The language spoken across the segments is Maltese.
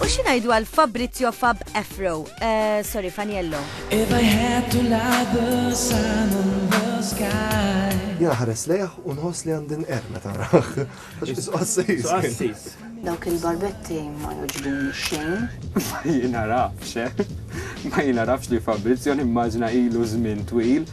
U xi ngħidu għal Fabrizio Fab Afro, eh, sorry Faniello. If I had to light the sun in the sky. Jena ħares lejh u nħoss li għandin er meta raħ. Għaxis. Dawk il-barbetti ma joġbin xejn. Ma jina rafx, eh? ma jina rafx li Fabrizio nimmaġna ilu żmien twil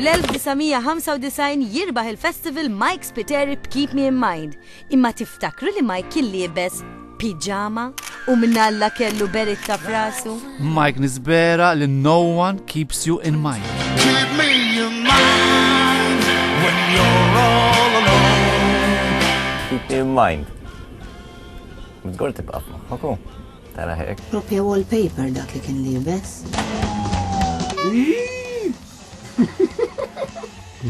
Fl-1995 jirbaħ il-festival Mike Spiteri b'Keep Me In Mind. Imma tiftakru li Mike kien liebes piġama u mnalla kellu beritta f'rasu? Mike nisbera li no one keeps you in mind. Keep me in mind when you're all alone. Keep me in mind. Bidgor tibqa' ma' Tara hekk. Propja wallpaper dak li kien libes.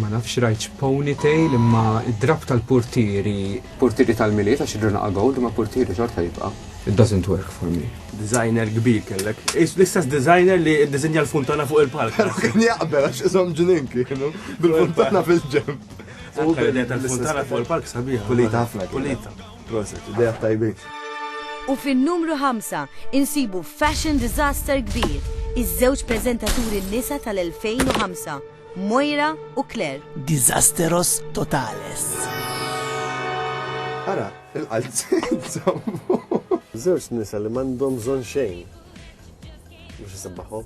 Ma nafx rajċ ponytail imma id-drab tal-portieri. Portieri tal-miliet għax id-druna għagħod ma portieri xorta jibqa. It doesn't work for me. Designer kbir kellek. L-istess designer li dizinja l-funtana fuq il-palk. Pero kien jaqbel għax isom ġinin kienu bil-funtana fil-ġem. U bil-funtana fuq il-palk sabiħ. Kulita ħafna. Kulita. Proset, idejat tajbin. U fin-numru ħamsa insibu fashion disaster kbir, iż-żewġ preżentaturi nisa tal-2005, Moira u Claire. Disasteros totales. Ara, il-qalziet żammu. Żewġ nisa li m'għandhom bżonn xejn biex isebbaħhom.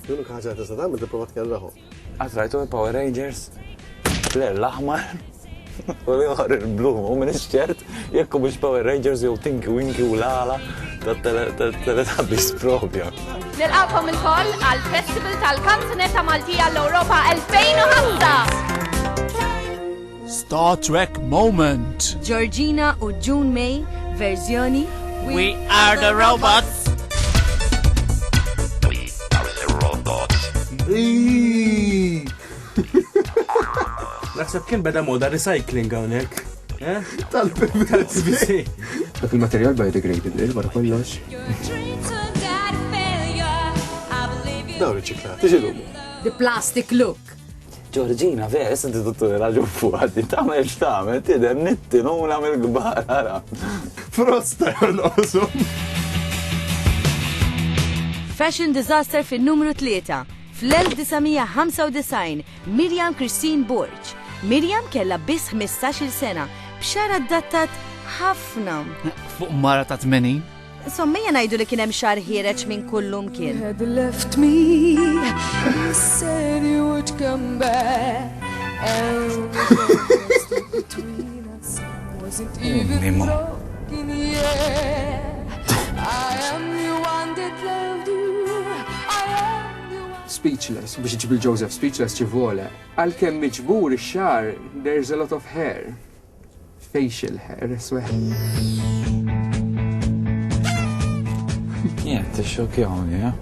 L-unika ħaġa li tista' tagħmel tipprova tkerrahom. Għat rajtu il-Power Rangers? Flair l-aħmar u li uħar il-blu, u minn iċċert, jekku biex Power Rangers jew Tinky Winky u l-għala tal-teletabis propja. Nilqakom il-koll għal-Festival tal-Kanzunetta Maltija l-Europa 2005! Star Trek Moment! Georgina u June May verżjoni We are the robots! Naħseb kien beda moda recycling hawnhekk. Eh? Tal-PVC. Dak il-materjal biodegradable wara kollox. Dawn riċiklati. Tiġi The plastic look. Ġorġina, vera, issa ti tuttu raġun fuqa, ti tamel xtamel, ti dem nittinuna mill-gbar, ara. Frosta jonqosu. Fashion disaster fin numru 3. Fl-1995, Miriam Christine Borg. Miriam kella biss 15 sena, b'xara d-dattat ħafna. Fuq mara ta' 80? Sommija ngħidu li kien hemm xahar ħiereġ minn kull lum kien. Speechless, biex iġib il-Joseph speechless ċivole. Għalkemm miġbur ix-xagħar, there's a lot of hair. facial hair sweat. Jien tixxokjawni, eh?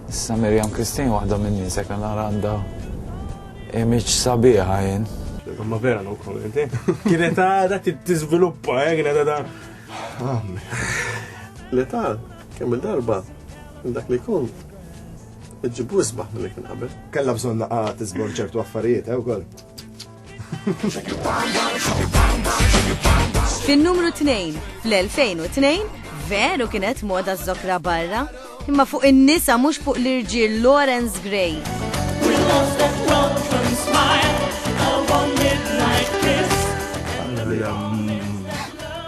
Issa Miriam Christine waħda minn nisek għal għandha image sabiħa jien. Ma vera no comment, eh? Kienet għada t-tizviluppa, eh? Kienet għada. L-età, kemm il-darba, dak li kun, ġibu isbaħ mill-li kien qabel. Kalla bżonna għat t-izbor ċertu affarijiet, eh, u koll. Fin-numru 2, fl-2002, veru kienet moda zokra barra, imma fuq in-nisa mhux fuq l-irġiel Lawrence Gray.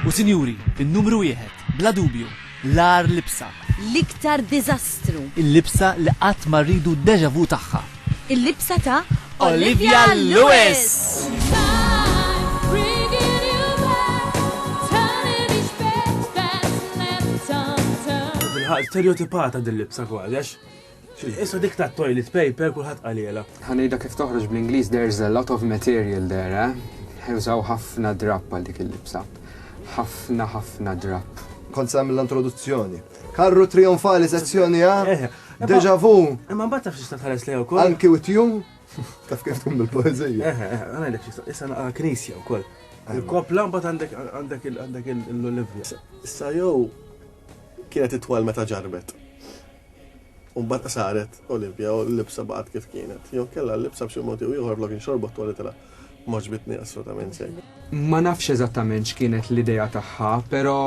U sinjuri, in-numru wieħed, bla dubju, l-ar libsa. L-iktar diżastru. Il-libsa li qatt ma rridu deja vu tagħha. Il-libsa ta' Olivia Lewis. Stereotipata din libsa kważi, Issa dik tat-toilet paper kulħadd qalielha. Ħa ngħidha kif toħroġ bl-Ingliż there's a lot of material there, eh? Użaw ħafna drapp għal dik il-libsa. Ħafna ħafna drapp. Kont se nagħmilha introduzzjoni. Karru trionfali sezzjoni A, eh, eh, deja vu. Imma mbagħad taf x'tista' tħares lejha wkoll. Anki with you. Taf kif tkun bil-poeżija. Eħe, eh, għana l issa naqa knisja wkoll. Il-kopla mbagħad għandek għandek l-olivja. Issa jew kienet itwal meta ġarbet. U mbagħad saret Olimpja u l-libsa baqgħet kif kienet. Jew inkella l-libsa b'xi mod jew ieħor flok inxorbu t-twali tilha m'għoġbitni assolutament xejn. Ma nafx eżattament x'kienet l-idea tagħha, però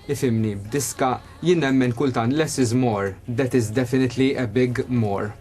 ifhimni, b'diska jien nemmen kultant less is more, that is definitely a big more.